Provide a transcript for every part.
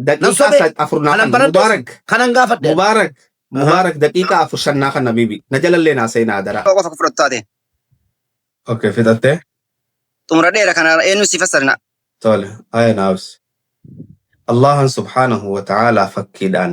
Nan Daqiiqaa sobee? sa- afur naa Kanan kanna. baradhes? Mubaarak. Kanan gaafadhe? Mubaarak. Aha. Mubaarak daqiiqaa afur shan naa kanna bibi. Na jalallee naa seenaa adaraa. Tokko qofa fudhattu taate. Okay fixattee. Xumura dheera kana eenyu si fassarina. Tole. Aya naabs. Allahan subhaanahu wa ta'aalaa fakkiidhaan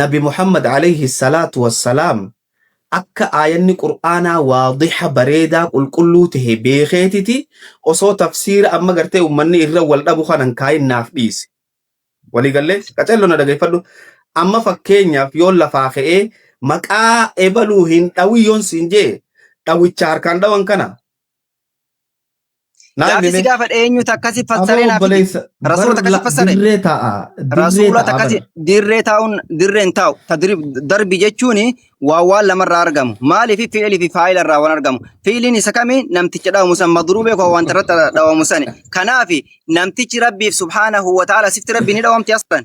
Nabi Muhammad Aleeyhi salaatu wassalaam akka aayanni qur'aanaa waadiha bareedaa qulqulluu tahe beekeetiti osoo tafsiira amma gartee ummanni irra wal dhabu kana hin kaayin naaf dhiise. Walii gallee? Qacello na dhageeffadhu. Amma fakkeenyaaf yoon lafaa ka'ee maqaa ebaluu hin dhawin yoon siin jee dhawicha harkaan dhawan kana Naa Gaafi si himime gaafadhe eenyutu akkasi aboo fassaree naaf himi. obboleessa bar Rasuula takka si la- fassare. dirree taa'a dirree Rasuula taa'a takka si bar dirree taa'uun dirree hin taa'u. Tadrib darbi jechuun waa waan lamarraa argamu. Maaliif fi'ilii fi faayila irraa waan argamu. Fi'iliin isa kami namticha dhawamu san madruubee koo wanta irratti dhawamu sani. Kanaaf namtichi rabbiif subhaanahu wa ta'ala sifti rabbi ni dhawamti aslan.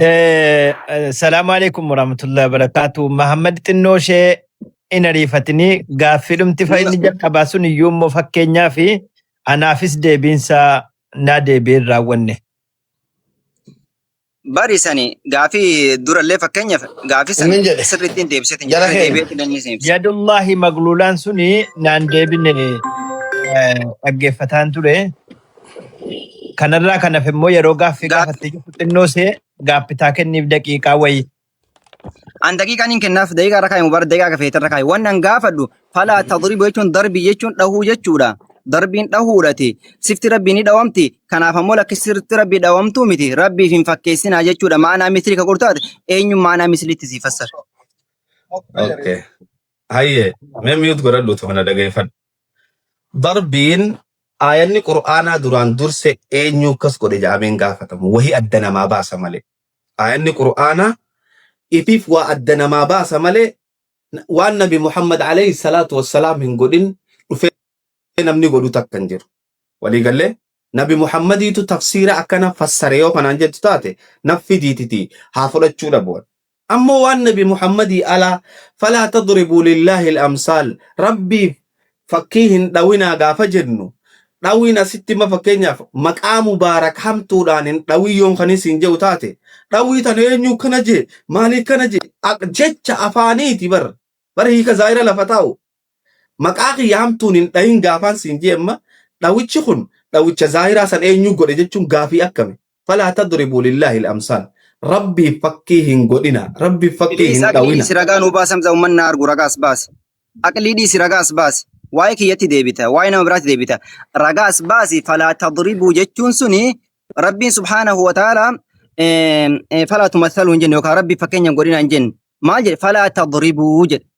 Eh, eh, Salaamu alaikum warahmatullahi wabarakatuh. Mahammad xinnoo ishee hin ariifatinii gaaffiidhumti fa'i inni jalqabaa sun iyyuu immoo fakkeenyaa fi anaafis deebiinsaa naa deebiin raawwanne. Bari sani gaafii durallee fakkeenyaaf gaafii sani Inni jedhe. sirriitti hin deebiseetiin Jara jedhe keenya. deebi'eetiin inni isin ibsa. Yadullahi magluulaan suni naan deebine eh, dhaggeeffataan ture. Kanarraa kan hafe immoo yeroo gaaffii Gaaf- gaafattee jirtu xinnoo see gaaffitaa kenniif daqiiqaa wayii. An daqiiqaan hin kennaaf daqiiqaa irra kaa'imu bara daqiiqaa akka feeterra kaa'i. Waan an gaafadhu falaa tadribu jechuun darbii jechuun dhahuu jechuudha. Darbiin dhahuudhati. Sifti rabbii ni dhawamti. Kanaaf ammoo lakki sirti rabbii dhawamtuu miti. Rabbiif hin fakkeessinaa jechuudha. Maanaa misli ka qortaate eenyu maanaa misliitti si fassara. Okay. Hayyee mee miyuut godhadhuutu kana dhageeffadhu. darbiin aayanni qur'aanaa duraan durse eenyu akkas godhe ja'ameen gaafatamu wahi adda namaa baasa malee aayanni qur'aanaa ifiif waa adda namaa baasa malee waan nabi muhammad alayhi salaatu wassalaam hin godhin dhufee namni godhu takka hin jiru walii gallee Nabi Muhammadiitu tafsiira akkana fassare yoo kanaan jettu taate naf fidiititii haa fudhachuu dhabu'an. Ammoo waan Nabi Muhammadii alaa falaa tadribuu lillaahil amsaal Rabbiif fakkii hin dhawinaa gaafa jennu dhawiin asitti ma fakkeenyaaf maqaa mubaarak hamtuudhaan hin dhawii yoon kanii siin je'u taate dhawii tana eenyuu kana jee maalii kana jee jecha afaaniiti bar bar hiika zaahira lafa taa'u Maqaa kiyya hamtuun hin dhahin gaafaan siin jee amma dhawichi kun dhawicha zaahiraa san eenyuu godhe jechuun gaafii akkami? Falaa tadribuu lillaahil amsaal. Rabbiif fakkii hin godhinaa. Rabbiif fakkii Please hin aqlii dhawina. dhiisi ragaa nuu baasi hamza ummanni haa argu ragaa as baasi. Aqlii dhiisi ragaa as baasi. Waa'ee kiyyatti deebita waa'ee nama biraatti deebita. Ragaa as baasi falaa tadribuu jechuun suni rabbiin subhaanahu wa ta'aalaa eh, eh, falaa tumathaluu hin jenne yookaan rabbiif fakkeenya hin godhinaa hin jenne. Maal jedhe falaa tadribuu jedhe.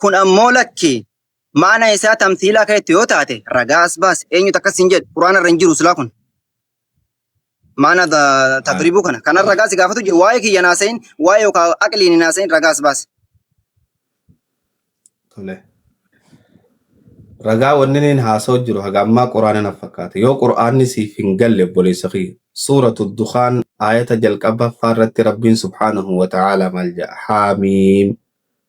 Kun ammoo lakki maana isaa tamsiilaa keetti yoo taate ragaa as baase eenyutu akkas hin jedhu quraana irra hin jiru silaa kun. Maana da- tadribuu kana kanan ragaa si gaafatu jiru waa'ee kiyya naasayin waa'ee yookaan aqliin hin naasayin ragaa as baase. Tole. Ragaa wanni niin haasa'u jiru haga ammaa quraana na fakkaata. Yoo quraanni siif hin galle obboleessa kiyya. Suuratu Dukaan aayata jalqabaffaa irratti Rabbiin subhaanahu wa ta'aalaa maal jedha? Haamiim.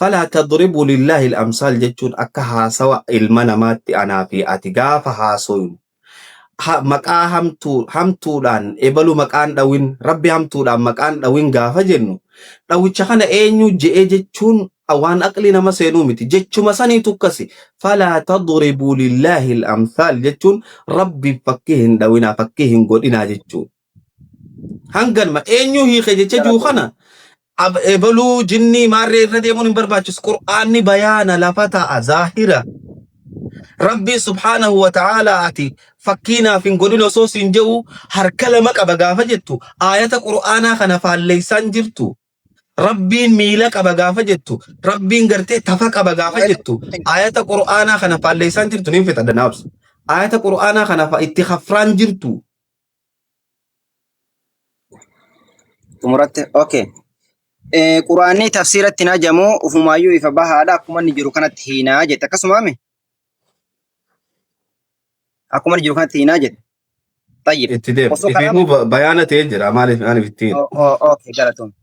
Falaa tadribuu lillaahil amsaal jechuun akka haasawa ilma namaatti anaa fi ati gaafa haasoynu ha, maqaa hamtuu, hamtuudhaan ebalu maqaan dhawin, Rabbi hamtuudhaan maqaan dhawin gaafa jennu dhawicha kana eenyuu je'e jechuun waan aqli nama seenuu miti. Jechuma saniitu akkasi. Falaa tadribuu lillaahil amsaal jechuun Rabbiif fakkii hin dhawinaa, fakkii hin godhinaa jechuudha. Hanganuma eenyuu hiike jecha jiru kana ab- ebaluu jinnii maarree irra deemuun hin barbaachisu. Qur'aanni bayaana lafa ta'a zaahira. Rabbiin subhaanahu wa ta'aalaa ati fakkii naaf hin godhin osoo siin je'u harka lama qaba gaafa jettu aayata qur'aanaa kana faalleessaan jirtu. Rabbiin miila qaba gaafa jettu rabbiin gartee tafa qaba gaafa jettu aayata qur'aanaa kana faalleessaan jirtu niin fixadha naabsa. Aayata qur'aanaa kana fa- itti hafraan jirtu. Xumuratte. Okay. Eh, Quraanni tafsiiratti hin hajamu ufumaayyuu ifa bahaadha akkuma inni jiru kanatti hiinaa jette akkasumaami akkuma inni jiru kanatti hiinaa jette. Tayyib. Itti deema. Osoo Ifiifuu kanaa ba- bayaana ta'ee jira. Maaliif maaliif ittiin? Oh, oh, okay, galatoom.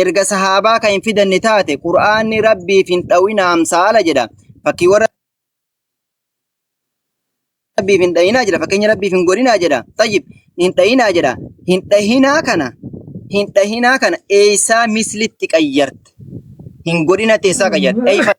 Erga sahaabaa kan hin fidanne taate Qur'aanni Rabbiif hin dhawina amsaala jedha. Fakkiiwwan Rabbiif hin dhayinaa jedha. Fakkeenya Rabbiif hin godhinaa jedha. Tayyib hin dhayinaa jedha. Hin dhahinaa kana hin dhahinaa kana eessaa mislitti qayyarte? Hin godhinatti eessaa qayyarte? Eeyfa-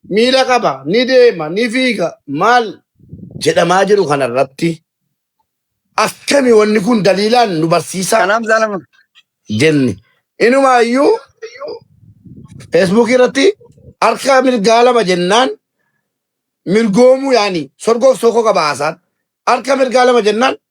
miila qaba, ni deema, ni fiiga maal jedhamaa jiru kana irratti akkami wanni kun daliilaan nu barsiisaa Kanaaf zaalama. jenni. Inumaayyuu feesbuukii irratti harka mirgaa lama jennaan mirgoomuu yaani sorgoof sookoo qaba haasaan. Harka mirgaa lama jennaan